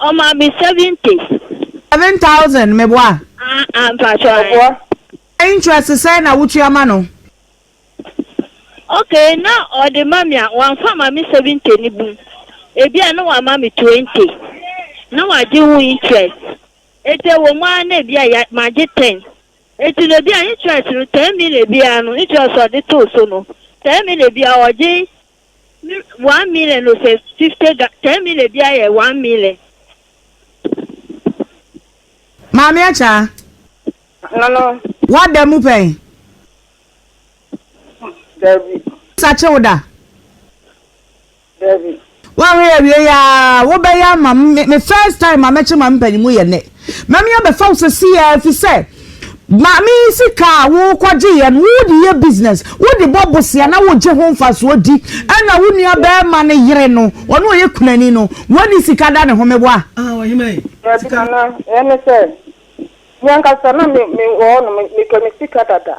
Ɔmaa me seven pace. Seven thousand meboa? Ah ah mpakyɛw ɛboɔ. Interest sɛn na wotua ma no? Ok na ɔde ma me a wamfa ama me seventy no bum ebi a na wama me twenty na wagye ho interest eti ɛwɔ mu ara na ebi a ya magye ten eti no ebi a interest no ten million biara no interest a ɔde too so no ten million biara ɔgye Me one million no sɛ fifty ga ten million biara yɛ one million. Maame Akyaa, Hello, woada mu pɛn? Dabi, Sakye wo da? dabi. Woanhwɛ yɛ awiei aa, wobɛyɛ ama me, me first time a mɛkye maame panyin mu yɛ nnɛ. Mame abɛfa wo sesei ara efisɛ Maame yi sika a worekɔgyeeɛ no wode yɛ business, wode bɔ bosea na wogye ho mfasoɔ di ɛna wo nua bɛɛma no yere no ɔno ɔyɛ kunani no wani sika da ne ho meboa. Dabi Nana, ɛne sɛ, meankasa na me me wɔ hɔ no me pɛ me sika dada.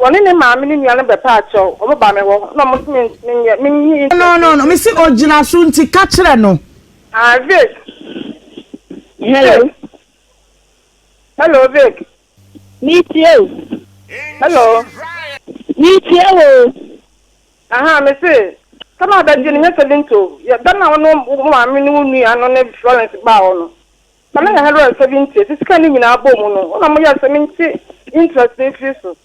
Wɔne ne maame ne nuanom bɛpaa kyɛw, wɔbaa me hɔ, na wɔse me menyɛ menyi interview. No, no, no, mese ogyina so nti ka kyerɛ no. Ah, Vic. Hello. Vic. Hello, Vic. Metie o. Hello. Metie wo o. Aha, mese, sɛm a bɛgye no nyɛ 70 o. Yɛ, da no a wo ne wo maame ne wo nua no ne Florence baa hɔ no, Na menya hundred and seventy esi sika no nyinaa bɔ mu no, nna moyɛ sɛ mente interest no mfiri so.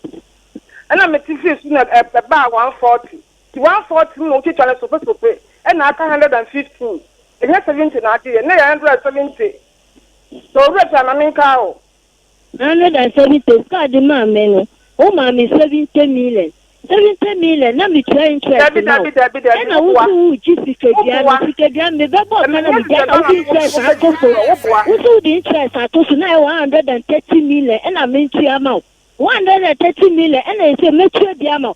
Nna mete firi so na ɛbaa one forty, nti one forty no na wotwitwa no sopesope na aka hundred and fifteen. Ɛnyɛ seventy na agye yɛn, na ɛyɛ hundred and seventy. So Owura Pia ma menkae wo. Ná me dansa bi te sika a ɔde maa me no, womaa me seventy million. Seventy million, na metua interest ma wo. Ɛna wo so wogye sikadua no, sikadua no mebɛbɔɔ ka na megyae na wode interest ato so. Wo so wode interest ato so, na ɛyɛ one hundred and thirty million na mentua ama wo. One hundred and thirty million, ɛna ɛsɛ mɛtua bi ama wo.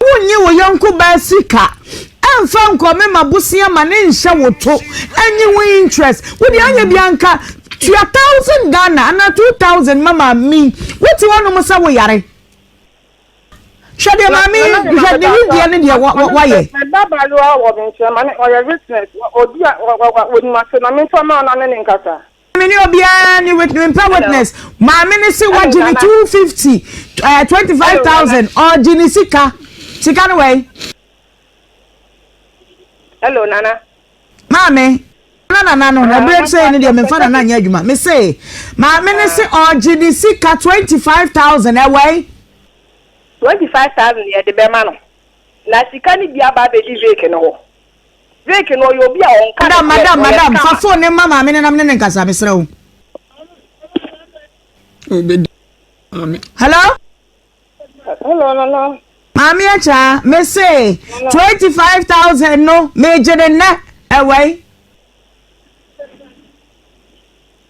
Wonnye wo yɔnko baa sika mfa nkɔme ma bosea ma ne nhyɛ wo to nyi ho interest. Wo deɛ anyɛ bia nka tua thousand Ghana anaa two thousand ma maame yi. Wote hɔnom sɛ wo yare. Hwɛ deɛ maame yi hwɛ ne nimdeɛ ne deɛ wayɛ. Me ba baayewa wɔ me nkyɛn ma ne ɔyɛ witness. Obi a wɔnim ase na memfa ma no na ne ne nkasa. Me ne obiara ne witness me mpɛ witness maame ne se wagye ne two fifty ɛɛ eh, twenty five thousand ɔgye ne sika sika no wɛn. hello nana. maame na nana no ɛbɛrɛ sɛ ne deɛ mefa nana nyɛ adwuma me se maame ne se ɔgye ne sika twenty five thousand ɛwɛn. twenty five thousand yɛ de bɛma no na sika ne bi aba abɛdi vake no hɔ. Drake no ɔyɛ obi a ɔnka ne Madam, madam, madam, fa phone no ma maame no na mene no nkasa, mesrɛ wo. Hello? Hello, Nana. Maame Akya, me se 25,000 no, megye ne nnɛ, ɛwɛi.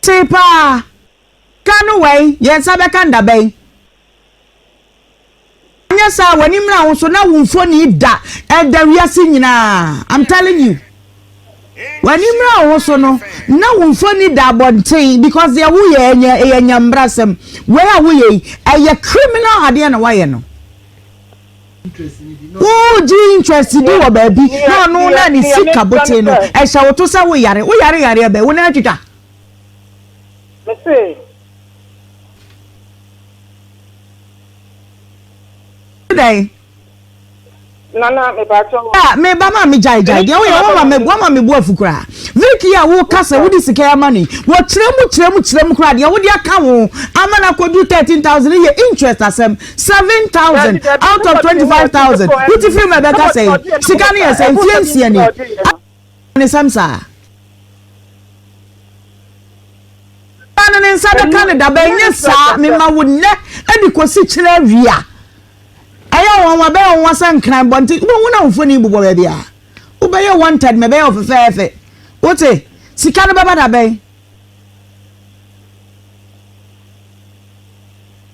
Tee paa. Ka no wai yɛn nsa bɛka ndabɛn. Anyɛ saa a w'ani mmra wo so na wo mfoni da ɛda wiase nyinaa I'm telling you. W'ani mmra wo ho so no na wo mfoni da abɔnten because deɛ woyɛ ɛnyɛ ɛyɛ nyambrasɛm. Wei a woyɛ yi ɛyɛ criminal adeɛ na woayɛ no. Wugye interest bi wɔ baabi na ɔno na ne sika bote no, ɛhyɛ wo to sɛ woyare. Woyare yareɛ bɛn? Wo nan atwitwa? Mese. dɛn. nana mepatɔ. a ah, me ba ma me gyae gyae deɛ woyɛ wama me wama me bu afu koraa viki a woka sɛ wode sika yɛ ama no yi wɔkyerɛ mu kyerɛ mu kyerɛ mu koraa deɛ wode aka ho ama no akɔdu thirteen thousand yɛ interest asɛm seven thousand out of twenty five thousand wuti firi mu ɛbɛka sɛ sika no yɛ sɛ mfie nsia ni ne nsɛm saa no ne nsa bɛka ne daba ɛnyɛ saa mema wo nnɛ ɛde kɔsi kyerɛ awia ɛyɛ wɔn wa bɛyɛ wɔn wa sɛ nkran bɔ nti wɔn na mfoni bobɔ baabi a wobɛyɛ wɔn tɛd mɛ bɛyɛ ɔfɛfɛɛfɛ wote sika no bɛba dabɛn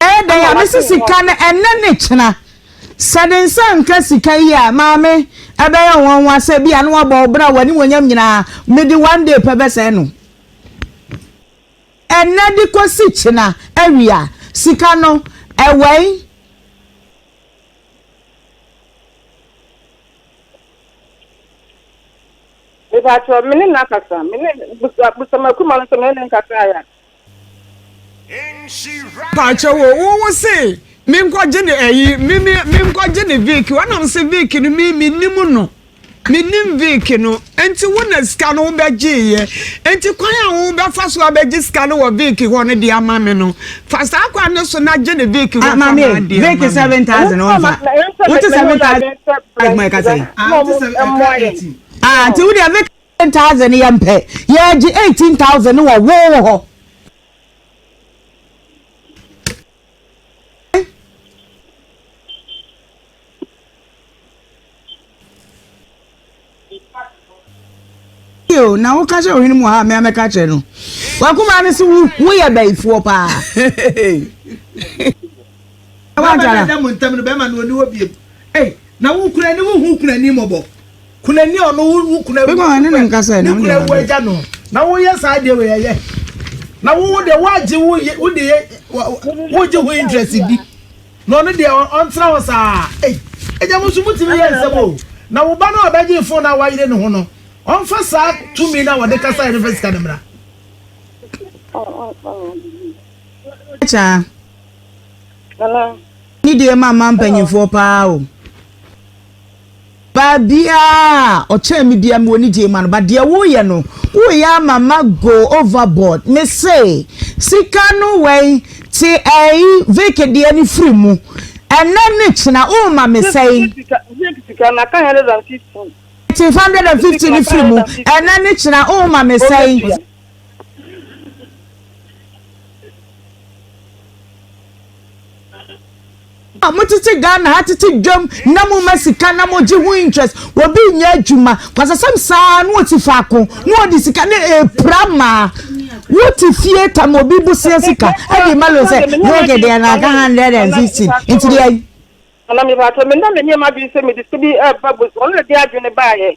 Ɛyɛ dɛn a mese sika no ɛnnɛ ne kyena. Sɛ de nsa nka sika yi a, Maame, ɛbɛyɛ nwanwa sɛ ebia na wabɔ wo bra w'animuonyam nyinaa mede one day pɛ bɛsɛe no. Ɛnnɛ de kɔsi kyena awia, sika no ɛwɛn. Mepatwɔ, me ne no akasa, me ne Busamakumalo nso me ne no nkasa ya. Pakyɛw o wo wo se me nkɔ gye ne ɛyi me me me nkɔ gye ne Vic wɔn nam se Vic no me me nim no me nim Vic no nti wo na sika no wo bɛ gye yɛ nti kwan a wo bɛ fa so abɛ gye sika no wɔ Vic hɔ no de ama me no fa saa kwan no so na gye ne Vic hɔ kama de ama me Vic seven thousand wɔn fa wo te seven thousand ɛkuma ɛka sɛ ah te seven ɛka eighteen ah nti wo deɛ Vic. Ten thousand yɛ mpɛ yɛgye eighteen thousand ne wɔ woo hɔ. o na wo kasa ohun mu ha me ame ka kyerɛ no wakuma ne se wo wo yɛ bɛyifoɔ paa Na w'agya no a ɛda mo ntam no bɛma no ɔni hɔ bio. Ei, na wo kura ni wo hu kunani mmɔbɔ? Kunani a ɔno wo kura wu Bɛkɔ ne ne nka sɛ, ne nam kura deɛ wu agya no. Na woyɛ saa deɛ wei ɛyɛ. Na wo wo deɛ woagye wo ye wo deɛ wogye ho interest di. Na ɔno deɛ ɔntena hɔ saa. Ei, agya mo nso motumi yɛ nsɛm o. Na wo ba no a ɔbɛgye phone no a wayere ne ho no, ɔmfa saa tumi no a ɔde kasaeɛ no mfa sika no mmra. Kyɛ a. Nana. Ne deɛ ma ma mpanyinfoɔ paa o. Baabiaa ɔkyɛn me bia me wɔ ne gyee ma no but deɛ wo yɛ no wo yɛ ama ma go over board me se sika no wɛn te ɛyi veke deɛ no firi mu ɛnɛ ne kyena wo ma me sɛn. Veke sika na ka hundred and fifty. Te hundred and fifty no firi mu ɛnɛ ne kyena wo ma me sɛn. a motete ghana ha tete dwam na moma sika na mogye ho interest wɔbi nyɛ adwuma kwasasɛm saa na ɔte faako na ɔde sika ne ɛpira eh, maa wote fie tam obi boseɛ sika ɛde ma lo sɛ yɛgye deɛ na aka hundred and fifteen nti deɛ ana mebaatɔ mena me nneɛma bi sɛ mede sɛ bi ɛba eh, bos ɔno na de adwene baeɛ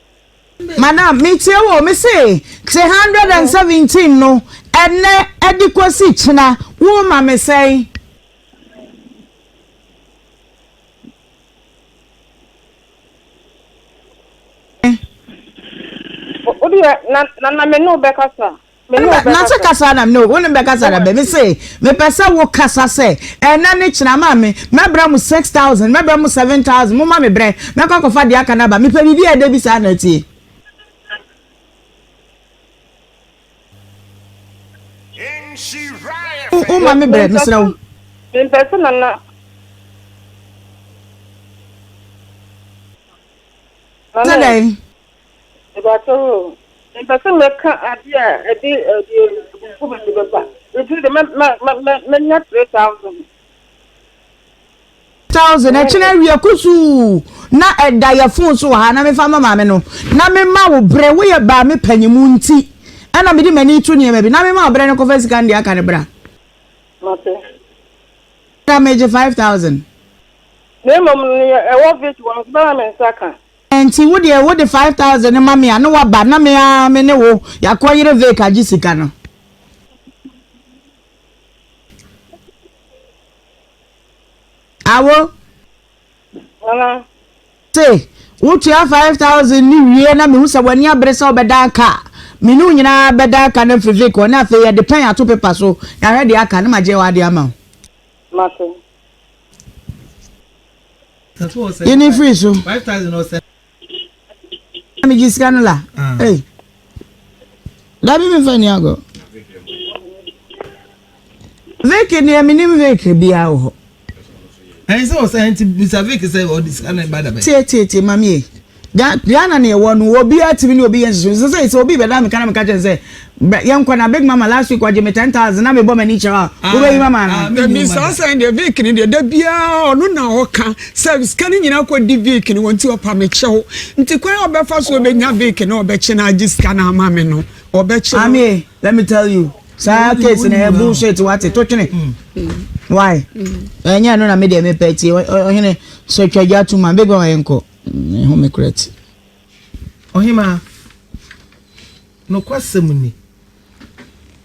Madam, metie wo. Mese te hundred and seventeen no ɛnɛ ɛde kosi kyena woma me sɛn? Wodeɛ na na me ne wo bɛkasa. na sɛ kasa na no wo ne bɛkasa na bɛmi se mepɛ sɛ wo kasa sɛ ɛnɛ ne kyena ma me mɛbrɛ mu six thousand mɛbrɛ mu seven thousand mo ma me brɛ mɛkɔ akɔfa deɛ aka no aba mepɛ biribi a ɛdɛ bi saa na atie wo ma me brɛ mesrɛ wo mempɛ sɛ nana sɛ dɛn Mepakyɛw oo, mepɛ sɛ mɛka ade a ɛde abufuw ba no bɛba. Enti de mɛnya three thousand. Thousand, ɛkyena awia kusuu na ɛda yɛ fon so wɔ ha na mefa ma maame no na mema wo bere. Woyɛ baa me panyin mu nti ɛna mede m'ani to nneɛma bi na mema wo bere no kɔfa sika no deɛ aka no bra. Mate. Na megye five thousand. Na mmom nea ɛwɔ vit wɔ no so bɛma me nsa ka. Ɛnti wo deɛ wode five thousand no ma me a na waba na me ara me ne wo yɛakɔ yere vake agye sika no. Awo. Mama. Se wotua five thousand ne wie na mehu sɛ w'ani abere sɛ wobɛdan ka a me ne wo nyinaa bɛdan ka no afiri vake hɔ na afei yɛde pɛn ato pepa so yɛahwɛ deɛ aka na magye w'adeɛ ama wo. Mate. Yi ne firi so. Mi gye sika no la. Ee. Dabi mi fɛ ni agɔ. Vic ni emi ni Vic bia wɔ hɔ. Ɛyin sɛ ɔsɛ ɛyin ti bisa Vic sɛ ɔdi sika na ɛba dabɛ. Tie tie tie maami yɛ. Ga Ghana na yɛwɔ no, obiara tumi ne obi yɛ nhyehyɛe. Sɛ sɛ sɛ obi bɛda me ka na meka kyerɛ no sɛ, bra yɛnkɔ na Big Mama last week ɔgye me ten thousand na mebɔ m'ani kyerɛ wo a, Ah, wobɛyi m'ama ah, anaa? dabi, Menni saa mma. sɛn deɛ Vic no deɛ da biara ɔno na ɔka sɛ sika no nyinaa kɔdi Vic no hɔ nti ɔpa me kyɛw nti kwan a ɔbɛfa so ɔbɛnya Vic na ɔbɛkye no agye sika no ama me no ɔbɛkye no Amie, let me tell you, saa Wonyi- case no wonyi ɛyɛ wo. bullshit wate, to twene. Why? Ɛnyɛ ɛno na me deɛ mepɛ tie, ɔ- ɔ- ɔhene sɛ twa gya to ma, Big Mama yɛnkɔ. Me home kora ti. Ɔhemaa, nokwasɛm ni,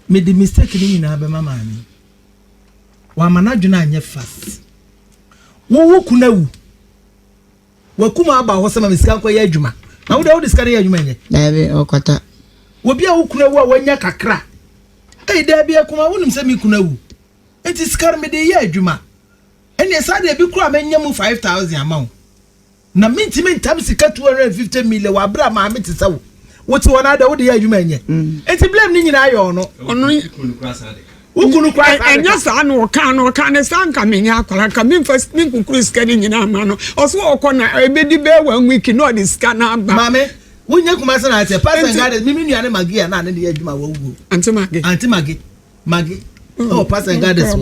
mede mistake no nyinaa bɛma maame. Wama n'adwene anyɛ fast. Wo wo kunu awu. Wakum aba hɔ sɛ ma me sika nkɔyɛ adwuma. Na wo deɛ wode sika no yɛ adwuma nyɛ. Daabi, ɔkwata. Obi a wo kunu awu a wanya kakra. Ei, daabi akuma, wonim sɛ me kunu awu. Enti sika no mede yɛ adwuma. Ɛneɛ saa deɛ bi koraa mɛnya mu five thousand ama wo na mentimi ntam sika two hundred and fifty million wɔ aberɛ a maame te sɛ wo wote hɔ no ada wode yɛ adwuma nyɛ ɛnti mm. blame ne nyinaa yɛ ɔno ɔno wokunu kora ɛnyɛ saa na ɔka no ɔka ne saa nka menyɛ akwara nka memfa me nkukuru sika no nyinaa ma no ɔso ɔkɔ na ɛbɛdi bɛɛ wa wiki na ɔde sika no aba maame wonyɛ kuma sɛ na asɛ pastor ngade mimi nua ne magi a na ne de yɛ adwuma wɔ wuo anti magi anti magi Maggie. Oh, oh Pastor Goddess.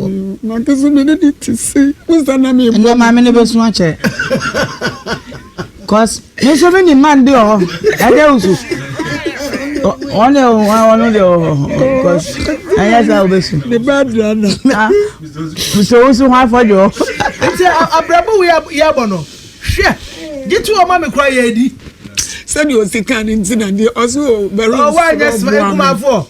Na kese me de ti se. Musa na me. Ndo ma me ne be sun ache. Cause me so me ni man de o. Ade usu. One o one de o. Cause anya sa obesu. The bad rana. Ah. So usu ho afojo. Ati abrabo we ya bono. Hwe. Gitu o ma me kura ye di. Sɛdeɛ ɔsi kan ne nti na deɛ ɔsi o bɛrɛ nsira ɔboa mi.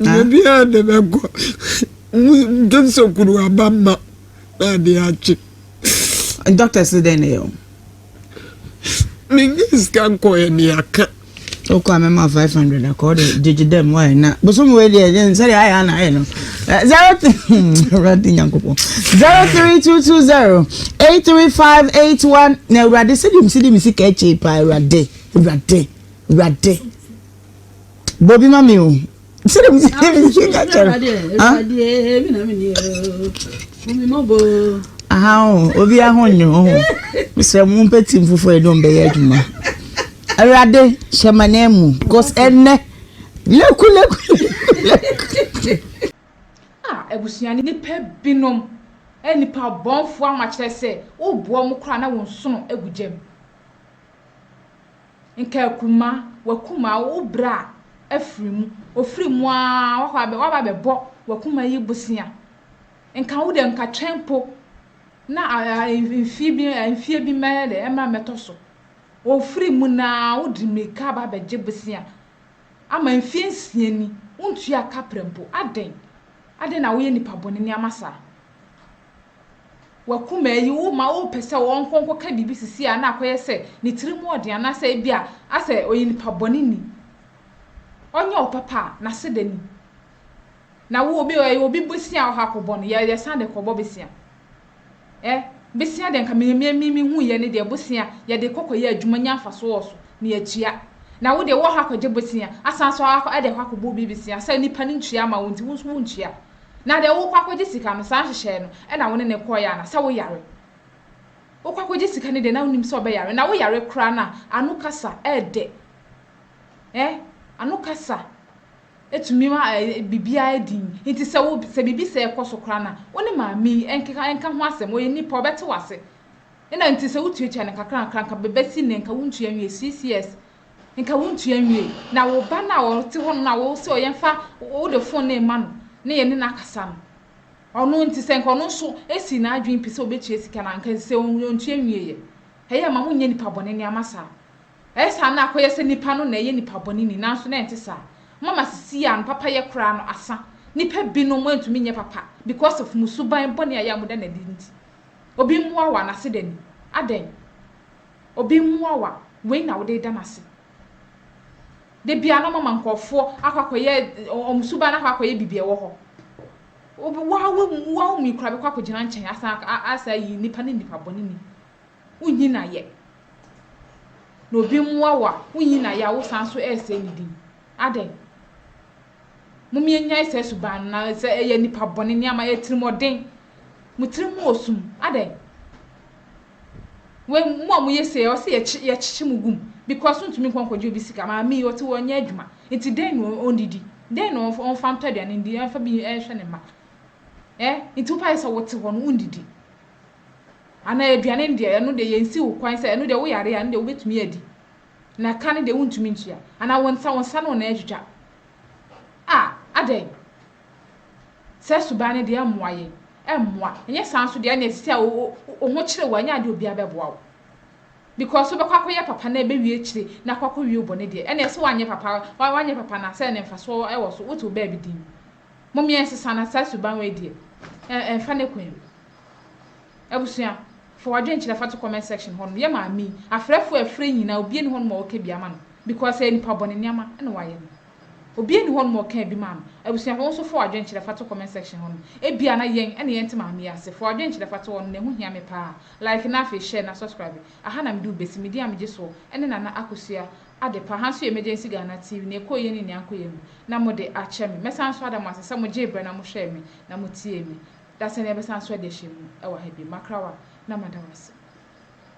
Baabiara a de bɛkɔ gye sɛ kuru aba ma na ade akye. Dɔkta si dɛn na yɛ o? Menye sika nkɔɛ ne aka. Okɔ a mɛma five hundred akɔ ɔde gyegye dɛm wɔyɛ na bosom wei deɛ ɛyɛ nsɛdeɛ ayɛ ana ayɛ no zero awurade nyankopɔn zero three two two zero eight three five eight one na awurade sɛdeɛ msi de me sika akyɛ paa awurade awurade awurade. Bobi ma mi o. Sɛ de mi si de mi si ka kyɛrɛ. Aha o, obi aho nyi ho. Mesrɛ mo mpɛ tim foforɔ yɛ dɛ ɔmbɛ yɛ adwuma. Awurade hyɛ ma nan mu. Cause ɛnɛ leku leku leku. Ah abusua ne nipa binom ɛyɛ nipa bɔnfoɔ ama kyerɛ sɛ wo boa ɔmo koraa na wo nsono gu gyam. Nka akuma, w'akuma, wo bra afiri mu, ɔfiri mu ara wakɔ abɛ, waba abɛbɔ w'akuma yi bosea. Nka wo deɛ, nka twɛn mpo na mfeɛ bi, mfeɛ bi mmɛyɛ dɛ, mmra mmɛtɔ so. Ɔfiri mu no ara, wode mmirika aba abɛgye bosea. Ama mfeɛ nsia ni, wontuaa kaprɛ mpo. Adɛn? Adɛn na woyɛ nnipa bɔne nneɛma saa? w'akuma yi wo ma wopɛ sɛ ɔnkɔ nkɔka biribi sisi a na akɔyɛ sɛ ne tiri mu ɔden anaasɛ ebi a asɛ ɔyɛ nipa bɔne ni ɔnyɛ wo papa a n'ase da ni na wo obi ɛyɛ obi bosia ɔha kɔbɔ no yɛ yɛsan de kɔbɔ besia ɛ besia deɛ nka me me me me hu yɛ ne deɛ bosia yɛde kɔkɔ yɛ adwuma nya mfaso wɔ so na yɛtua na wo deɛ wɔ ha kɔgye bosia asan so ɛde ɛhɔ akɔbɔ obi besia sɛ nipa ne ntua ama wo nti wo nso wo ntua Na deɛ wokɔ akɔgye sika no, saa nhyehyɛɛ no na wo ne no kɔɔeɛ anaa? Sɛ wo yare, wokɔ akɔgye sika no deɛ na wonim sɛ ɔbɛyare? Na wo yare koraa no a, ano kasa ɛɛdɛ eh, ano kasa ɛtumi ma biribiara yɛ dinn. Nti sɛ wo, sɛ biribi sɛɛ kɔ so koraa no a, wo ne maame yi nkeka, nka ho asɛm, ɔyɛ nipa, ɔbɛte w'ase. Ɛna nti sɛ wotuatua no nkakra nkakra, nka bɛsi nnɛ, nka wontua nwie, six years. Nka wontua nwiei, na wo ba no a ɔte hɔnom no a wose ɔyɛ mfa wo de fon no rema no na yɛne no akasa no, ɔno nti sɛ nka ɔno nso sii n'adwene pi sɛ obetua sika no a, nka sɛ ontua nwiei ɛ? Ɛyɛ a ma monyɛ nnipa bɔne nneɛma saa. Ɛyɛ saa na akɔyɛ sɛ nnipa no na ɛyɛ nnipa bɔne ni, nanso na ɛnte saa. Moama sesie a no papayɛ koraa no asa. Nnipa binom antumi nyɛ papa because of mo suban bɔne a ɛyɛ a moda no adi nti. Obi mmoa wo a, n'ase da ni. Adɛn? ɔbɛmua wo a, wei na wode reda no ase. Da biara na ɔmama nkurɔfoɔ akɔ akɔyɛ wɔn suban no akɔ akɔyɛ biribi ɛwɔ hɔ. Woa woa wo mi koraa bɛkɔ akɔgyina nkyɛn asan asan ayi nipa ne nipa bɔne ni. Wonyi no ayɛ. Na obi mmoa wo a, wonyi no ayɛ a wosan so ɛresɛe ne din. Adɛn? Mom yɛnyae saa suban no na sɛ ɛyɛ nipa bɔne nneɛma ɛtirimɔden. Mo tirim wɔ sum. Adɛn? Wei mo a moyɛ sei a ɔse yɛkye yɛkyekye mo gu mu because wontumi nkɔ nkɔgye obi sika. Maame yi ɔte hɔ ɔnyɛ adwuma nti dɛn na ɔndidi? Dɛn na ɔmfa ɔmfa ntɔ aduane ndi ɛmfa bi ɛnhwɛ ne mma? Ɛ nti wopɛ ayɛ sɛ wote hɔ no wondidi? Anaa aduane no deɛ ɛno deɛ yɛnsi wo kwan sɛ ɛno deɛ woyare a ɛno deɛ wobɛtumi adi na ka no deɛ wontumi ntua anaa wo nsa wo nsa no na ɛtwitwa? Ah adɛn? Saa suban no deɛ ɛmmoa yɛn. Ɛmmoa. Ɛnyɛ saa nso deɛ ɛnneɛ sisi a wo wo ho kyere wo a ɛnyɛ adeɛ obiara bɛboa wo because wobɛkɔ akɔyɛ papa na ɛbɛwie akyire na akɔ akɔwie wo bɔne deɛ ɛnneɛ sɛ woanyɛ papa a woanyɛ papa no a sɛn ne mfasoɔ wɔ so? Wote wo baabi din. Mom yɛn nsesa na saa suban wei deɛ ɛ ɛmfa ne kwan mu. Abusua fa w'adwenkyerɛ fa to comment section hɔ nom yɛ maame yi afrɛfoɔ a ɛfrɛ yi nyinaa obiara nni hɔ nom a ɔka bi ama no because ɛyɛ nipa bɔne nneɛma ɛna wayɛ no. Obi ɛni hɔ nom ɔkaa bi maa me. Abusua hɔ wo nso fɔɔ adwen kyerɛ fa to comment section hɔ nom. Ebia na yɛn ɛne yɛn nte maame yi ase. Fɔɔ adwen kyerɛ fa to hɔ nom na ɛho hia me paa. Like na afei share na subscribe. Aha na me de wo besi. Me din a me gye soɔ ɛne Nana Akosua Adepa. Ha nso yɛ Emergency Ghana TV. Nea ɛkɔɔ yie ne nea ankɔ yie no na mo de akyɛ me. Mɛsan nso ada mo ase sɛ mo gyee brɛ na mo hwɛɛ me na mo tiee me. Dasani yɛbɛsan nso adi ahyɛmu ɛwɔ ha bio. Makrawa na mada wo ase.